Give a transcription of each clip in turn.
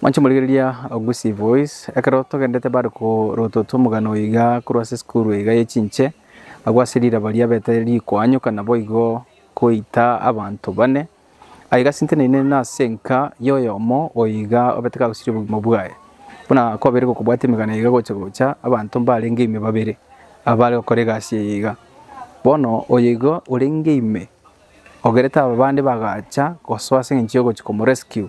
Mwanche morigereria Gusii Voice. Ekero togendete bare korotwa tw'omogano oyo iga korwa ase esukuru iga ye chinche, agwo ase riraba riabete rikoanyoka naboigo koita abanto bane. Aye iga sinteneine nase enka y'oyomo oyo iga obete kagosiria obogima bwaye. Buna kwabeire gokobwate emegano iga gocha gocha, abanto mbarenge ime babere abare gokora egasi eye iga. Bono oyo igo orenge ime ogerete aba bande bagacha gosoa ase engencho yogochia komo rescue.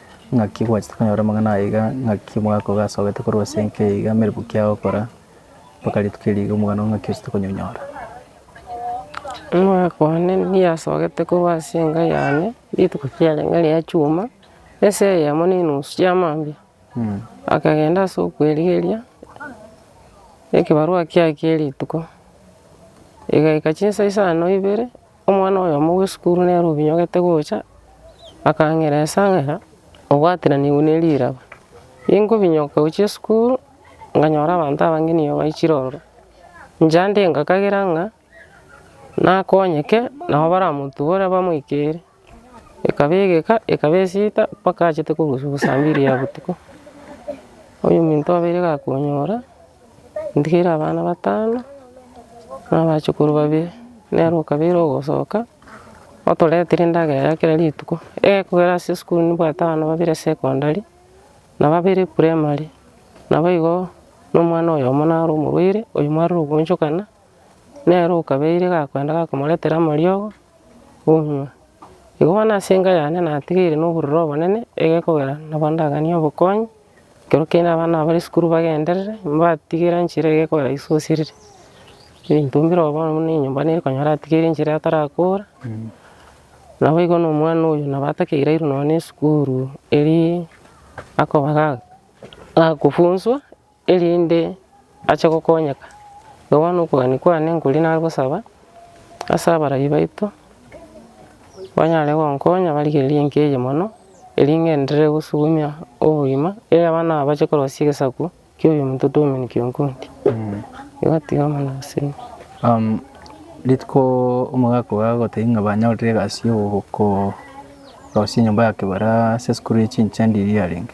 Ng'aki gwachete konyora amang'ana aya iga? Ng'aki omogaka ogo asogete korwa ase enka eye iga amerwe ki agokora mpaka rituko eri iga omogano ng'aki ochete konyonyora? Omogaka one nigo asogete korwa ase enka yane rituko kiare ng'a ria chuma, esa eyemo na enusu chia mambia, akagenda ase okwerigeria ekebarua kiaye kia rituko, egaika chinsa isano ibere. Omwana oyomo bw'esukuru nere obinyogete gocha, akang'ira esang'era obwateranigwe ne riraba. Ingobinyoka gochia esukuru, nkanyora abanto abange nigo baichire ororo, inche ande ngakagera ng'a nakonyeke nabo baramotubore bamoikere. Ekaba egeka, ekaba esita mpaka achete korusia obosambi eria botuko. Oyominto obeire gakonyora. Ntigeire abana batano, na abachukuru babere, nere okabeire ogosoka, otoretire endagera ya kera rituko, ekogera ase esukuru nibwate abana babere secondary, na babere primary, nabo igo, na omwana oyomo naro omorwaire, oyio mwarire ogochokana. Nere okabeire gakoenda gakomoretera amariogo onywe. Igo bono ase enka yane natigeire na obororo obonene egekogera nabo ndaganie obokonyi, ekero kiani abana bare esukuru bagenderere, mbatigere enchera egekogera esosiriri. Ebinto mbire oo bono buna enyomba nere konyora atigeire enchera atarakora, nabo igo na omwana oyo nabo atakeire airwe nonya na esukuru eria akoba ga- gakofunswa erinde ache gokonyeka. Igo bono okogania kwane nkoria nare gosaba ase abarai baito, banyare gonkonya barigererie enka eye mono, eri ng'enderere gosugumia obogima, e abana aba bache korosia egesaku kia oyo omonto twaumana kionkodi. Igo tiga mono gose. Rituko omogaka ogo agotebia ng'a banyorire egasi ya ogokorosia enyomba ya kebare ase esukuru ya chinchindi eria yarenge.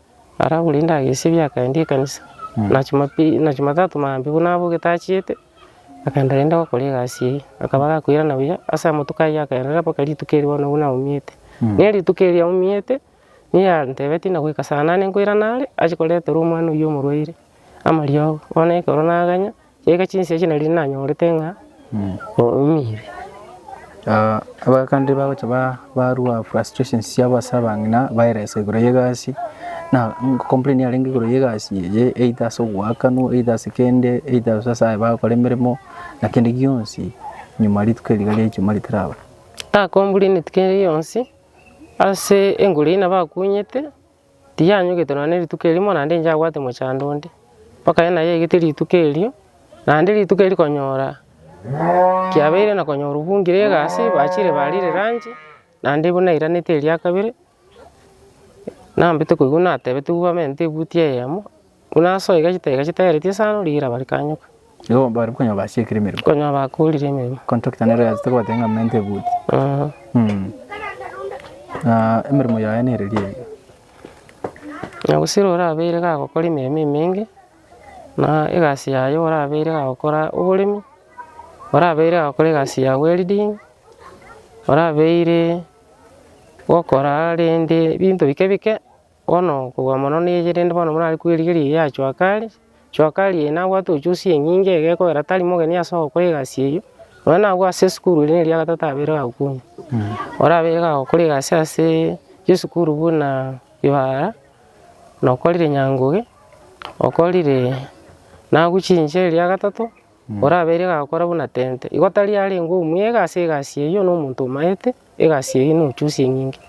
Aragure ndagesi ebiakaendie ekanisa, na Jumapili na Jumatatu maambia buna abwo getachiete, akaenda rende gokora egasi eye, akaba gakoirana buya ase amatuko ayio akaenderera mpaka rituko eri bono buna aumiete. Nere rituko erio aumiete, nigo antebetie na goika saa nane nkoirana are, ache koreterwa omwana oyio omorwaire, amariogo, bono ekero naganya. Chiaika chinsa echi nari nanyorete ng'a oumire. Abakande bagocha ba- barua frustrations chiabo ase abang'ina baeresa igoro y'egasi, na complain yarenge igoro y'egasi eye either ase ogoakanwa either ase kende either gose ase aye bagokora emeremo na kende gionsi nyuma rituko eri riga ria ijumaa ritaraba. Nakombureneti kende gionsi ase engoro eye nabakunyete. Tiyanyogete nonya ne rituko erimo naende inche abwate mochando onde, mpaka yaani naye aigete rituko erio, naende rituko erio konyora kiabeire na konyora obwongire egasi bachire barire lunch, naende buna nairanete eria kabere, nambete koigwa natebetigwe bamenyete ebuti eyemo. Buna ase oigachete oigachete aeretie esano, rigira bare kanyoka. Igo bare konya basiekire emeremo. Konya bakorire emeremo. Contractor nere oyasete gobatebia ng'a mente ebuti. Eeh. Mh. Na emeremo yaye nere eri eyio. Na gose ere orabeire gagokora emeremo emenge, na egasi yaye orabeire gagokora oboremi, orabeire gagokora egasi ya welding, orabeire gokora rende ebinto bike bike. Bono okobua mono neye, rende bono morare kwerigeria eye yachoaka are, choaka ari eye nabwate ochusie enyinge iga ekogera tari mogeni ase ogokora egasi eyio, nonya nabwo ase esukuru ere eria ya gatato abeire iga gokumia. Orabe iga gokora egasi ase esukuru buna Ibara, nokorire Nyangoge, okorire nabu chinche eria ya gatato. Orabeire gakora buna tente, igo tari arengwe omwega ase egasi eyio na omonto omaete egasi eyio nochusia enyinge.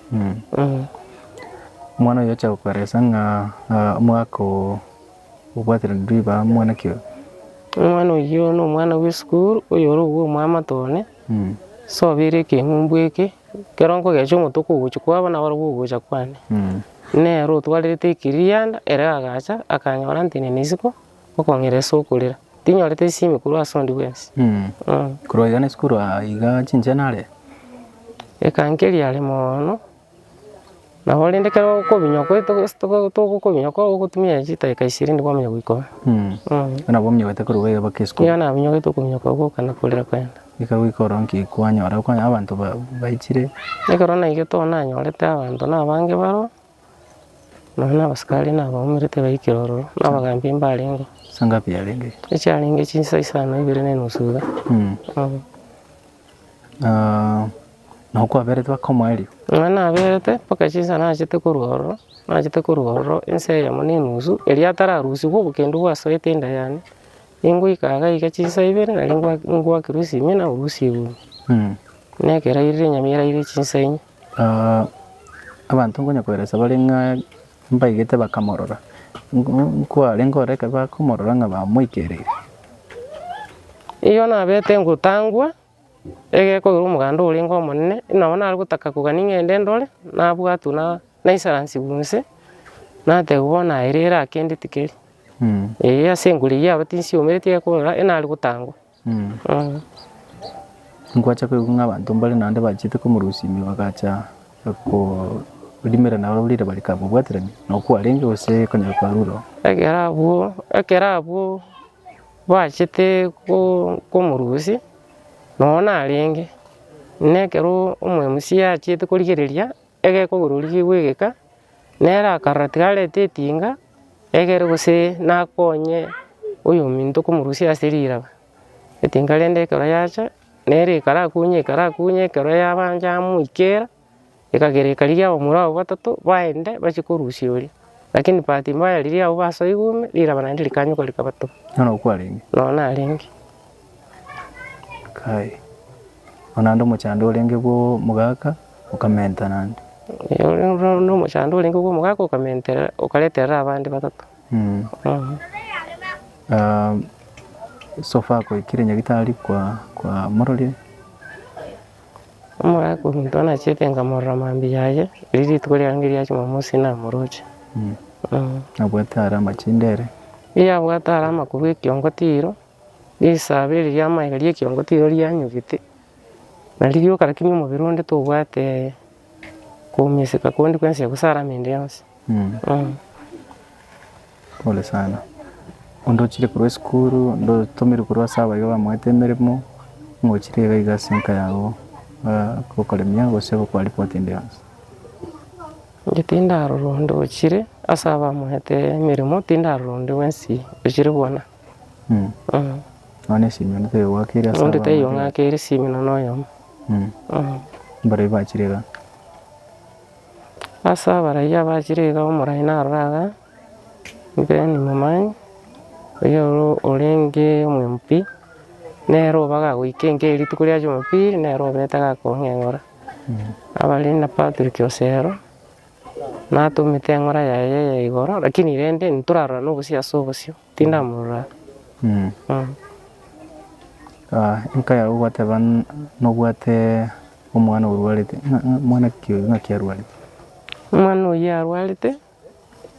Omwana oyio ochia gokoeresa ng'a omogaka oo obwatereretie ribaga mwana ki oyo? Omwana oyio na omwana bw'esukuru oyore obwo omwamate one, sobeire ekeng'umbu eke, ekero nkogecha omotuko ogochia kwabo nabarabwo ogocha kwane. Nere otwarete ekeganda ere agacha akanyora ntenena isiko. Okong'ira ase okorera. Tinyorete chisemi korwa ase onde bwensi. Korwa iga nase korwa iga chinche nare. Ekankeria are moono. Nabo rende ekero okobinywa togokobinywa ko ogotumia chidakika ishirini kwamanya goikwa. Igo nabo ominyokete korwa iga mpaka isiko. Igo naminyokete okobinywa kwa gwoka na korera kwene. Eka goika oronge ki kwanyora abanto baichire. Ekero naigete oonanyorete abanto na abange baroo. Nonya na abasikari nabaumerete baikire ororo, na abagaambi mbarengeo, Insa ngapi yarenge? echiarenge chinsa isano na ibere na enusu iga. Mm. Mm. Ah, nabo kwaberete bakomoa erio? Nonya naberete mpaka chinsa nachete korwa ororo, nachete korwa ororo insa eyemo na enusu, erio atararusigwa obokendu bwasoete enda yane, ningoika iga iga chinsa ibere naende ngwa- ngwakerwa esimia naurwa esegunia, Mm. na ekero airire enyama eraire chinsa inye. abanto nkonya koeresa bare ng'a mbaigete bakamorora, nkwarenge ororo ekero bakomorora ng'a bamoikereire. Eyio nabete ngotangwa, egeko ore omoganda orenge omonene, nabo nare gotaka kogani ng'ende ndore, nabwatwa na naisaransigwe inse, natebiwa bono aye rero aa kende tikeri, eeh ase enguru eyio aba tinsiomereti ekorora, enare gotangwa. Nkwacha koigwa ng'a abanto mbare naende bachiete komorusia ime bagacha korimera nabo riire bare kamobwaterani nabo kwarenge gose konyara kwarure oo. Ekero abwo, ekero abwo bachete ko- komorusia, nonye narenge, nekero omoemusia achiete korigereria Egekogorori kegwegeka, nere akarora tiga arete etinga egere gose nakonye oyominto komorusia ase riraba, etinga rende ekero yacha, nere ekara akunye ekara akunye ekero yabancha yamoikera, ekagera ekarigia abamura abwo batato baende bachie korusia oria. Lakini bahati mbaya riria abwo basoigwe ime, riraba naende rikanyoka rikabatoba. Nonya okwarenge. Nonya narenge. Kai, o naende omochando orenge bw'omogaka okamenta naende. Ee, o naende omochando orenge bw'omogaka okamenterera, okareterera abande batato. Mm. Mm. Ah, so far goikire nyagitari kwa kwa mororie Omogaka ominto anachete nkamorora mambia aye, riria rituko riarenge ria Jumamosi namoroche. mm. Mm. nabwate are amachinde ere Riria abwate are amakuru ekiongo tiro, Risaaba eri ri'amaega ri'ekiongo tirio rianyugete, nari rioka rakini omobere onde tobwate koumiseka konde kwensi eye gose alama ende yonsi. Pole sana. Onde ochire korwa esukuru, onde otomirwe korwa ase abaiga bamoete emeremo, nigo ochire iga iga ase enka yago, bagokoremia gose gokwa report ende yonsi. Inche tindarora onde ochire ase abamoete emeremo, tindarora onde bwensi ochire bwana. Onde taiyo ng'ake ere Simino noyomo. Ase abaraiyo abachire iga omorai narore iga, Ben Momanyi, oyio orenge omwemupi, nere obaga agoika enka eye rituko ria Jumapili nere obete gakong'eng'ora. Abare na Patrick Osero. Natomete eng'ora yaye ya igoro, lakini rende ntorarorane obosio ase obosio, tindamorora. Mm. Mm. Ah, enka yao gwateba n- nobwate omwana orwarete ng'a- ng'a- mwana ki oyo ng'aki arwarete Omwana oyio arwarete,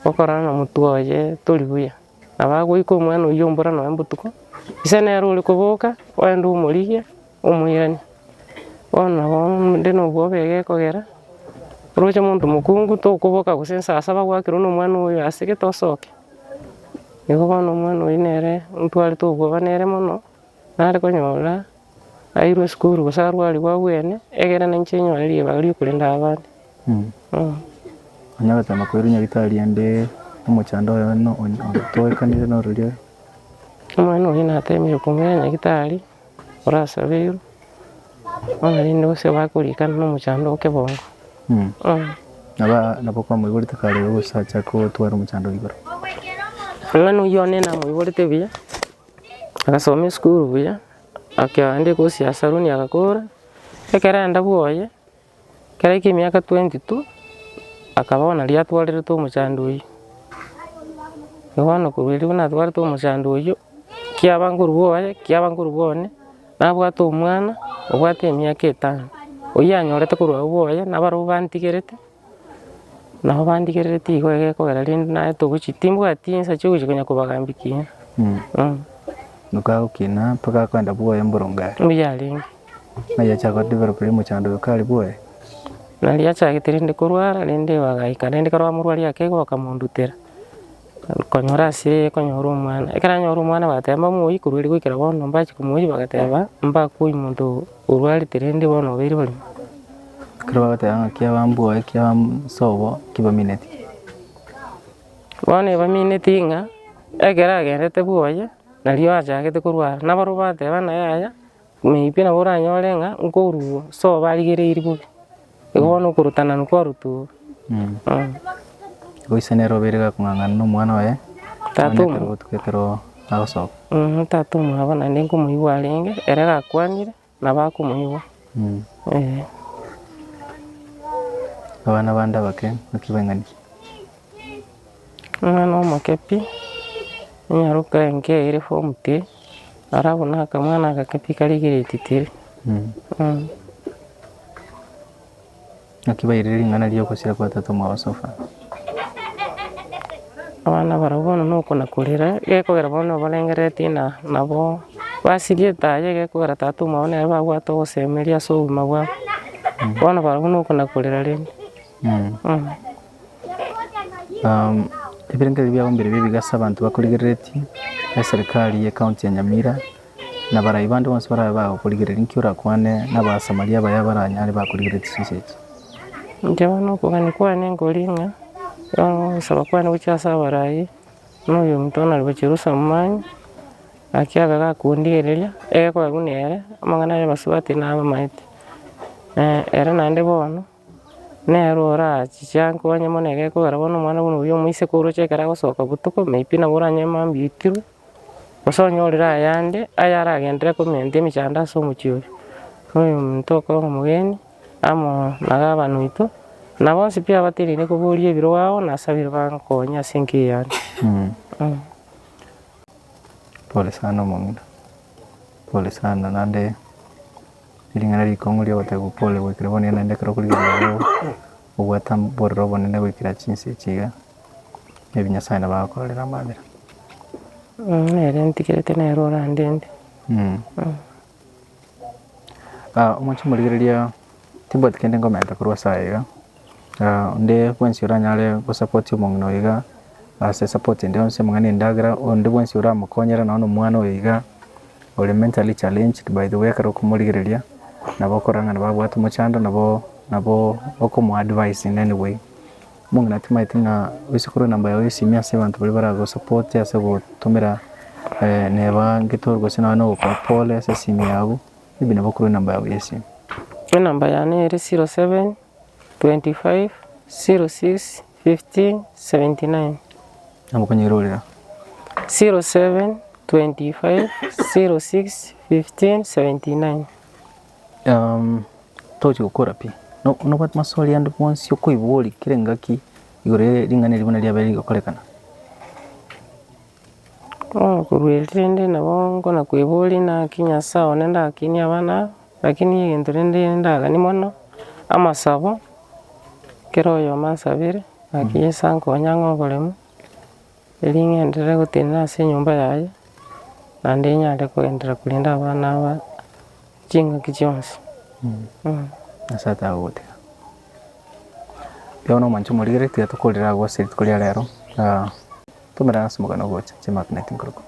okorana na motwe oye tori buya. Nabagoika omwana oyio mbora noe mbotuko, ise nere ore koboka oende omorigie, omoiranie. Bono nabo inde nobwoba iga ekogera, oroche monto mokungu tokoboka gose nsaa saba gwakerwa nomwana oyo ase gete osoke. Igo bono omwana oyio nere ntwarete obwoba nere mono, nare konyora. Nairwe esukuru gose arwarigwe obwene, egerana inche nyore ribaga riokorenda abande. Nonya ogachama koirwa nyagetari ande omochando oye no onye otoekanire nororia. Omwana oria natemire komoira nyagetari orasabeirwe, bono rende gose bakorikana na omochando o kebongo. Naba nabo kwamoiborete kare ogosacha kotwara omochando igoro. Omwana oyio one namoiborete buya, agasoma esukuru buya. Ekero aande Kosi ase Aroni agakora, ekerenda bwoye, ekero aika emiaka twenty two, akaba bono aria atwarerete omochando oyio. Bono korwa erio buna atwarete omochando oyio, kiaba nkorwa bwoye, kiaba nkorwa bwane, nabwate omwana, obwate emiaka etano, oyio anyorete korwa agwo bwoye, nabarabwo bantigerete. Nabo bandigereretie igo egekogera rende naye togochi timbwati ensa chi'ogochi konya kobagambia ekiya. Mh. Nokagokina mpaka akoenda bwoye mboronge aria. Mbuya arenge. Nayachaka go develop rende mochando oyo kare bwoye. Nariachagete rende korwara rende bagaika rende kare bamorwaria ake igo bakamondutera. Konyora asire konyora omwana, ekero anyora omwana bagateba mbamoe korwa ere goikera bono, mbachi komoyia bagateba mbakoi monto orwarete rende bono obeire barimo. Ekero bagoteba ng'a ki abambua ki abasobo ki bamineti. Bono ebamineeti ng'a ekero agenderete bwoye, nario achagete korwara, naboro bateba ng'a yaya. Maybe nabo oranyore ng'a nkorwa so barigereiri bobe, igo bono okorutana kwarutwa oo. Goise nere obeire gakong'ang'ana na omwana oye, Tata mwana omo- ekero gotuka ekero agosoka. Mhm, tata omwabo naende nkomoigwa arenge, ere gakwanire nabo akomoigwa, eeh. Abana bande abake, naki baing'ani? Omwana omoke pi, nyaroka enka eye ere form three, aro abwo na akamwana agake pi kare grade three. Naki bairire ring'ana ria ogosira kwa tata omwabo sofa. Abana barobwo bono na okona korera, gekogera bono na obarengereretie ng'a nabo basirie etaaya egekogera tata omwabo nere babwate ogosemeria ase obogima bwabo. Bono barobwo na okona korera rende. Ebirengererio biabo mbire bibe iga ase abanto bakorigereretie, na eserikari y'ecounty ya Nyamira, na barai bande bonsi barabe bagokorigereria, nki orakwane na Abasamaria abaya baranyare bakorigereretie chinsa echi? Inche bono okogania kwane nkore ng'a, ogosaba kwane gochia ase abarai, buna oyo omonto bono ore Jerusa omomani, naki abe gakondigereria, ekero kwagwa nere, amang'ana aria basubati nabe amaete. Ere naende bono. Nero orachichanke onye mono egekogera bono omwana buna oyio omoiseke oroche ekero agosoka botuko may be nabo oranyore mambia oitirwe, gose onyorire ayande ayaragendere koment emechando ase omochie oria, na oyominto okoro omogeni amo na gabana oito, na bonsi pi abateneine koboria ebiro ao nasabire bankonye ase enka eyane. Pole sana omong'ina, pole sana naende. Ring'ana rikong'u ri'ogotebwa Pole goikire bonene naende ekero okorigereria oreo obwate amborero obonene goikera chinsa echi iga, maybe Nyasae nabo agokorere amabera. Mh, nere ntigerete nere orandende. Mh. Omochie morigereria, timbwati kende nkomerete korwa ase aya iga. Onde bwensi oranyare gosapoti omong'ina oyo iga ase esapoti ende yonsi amang'ana endagera, onde bwensi oramokonyere nonye na omwana oyo iga ore mentally challenged by the way ekero okomorigereria nabo okorora nabo abwate omochando nabo nabo okomo advise in any way. Omong'ina tamaeti ng'a oise korwa enamba yago y'esimi ase abanto baria baragosapote ase gotomera neba ngeto gose nonye na ogokora pore ase esimi yabo. Maybe nabo korwa enamba yao yesimo. Enamba yane ere 0725061579. Nabo okonyerorera. 0725061579. Togochia gokora pi. Nobwate maswali ande bwonsi okoiboria kera engaki igoro ye ring'ana eri buna riabeire rigokorekana? Nakorueretie rende nabo nkonakweboria naki Nyasae one ndakini abana aba, lakini egento rende ndagani mono, amasabo, kera oyomo ansabere naki Yeso ankonye ang'e oboremu, eri ng'enderere gotenena ase enyomba yaye, naende nyare kogenderera korenda abana aba chingaki chionsi. Nyasae tagogotiga. Bono omonto omorigeretie tokorire agwo ase rituko ria rero. Tumira ase omogano ogocha chimagnet nkorokoro.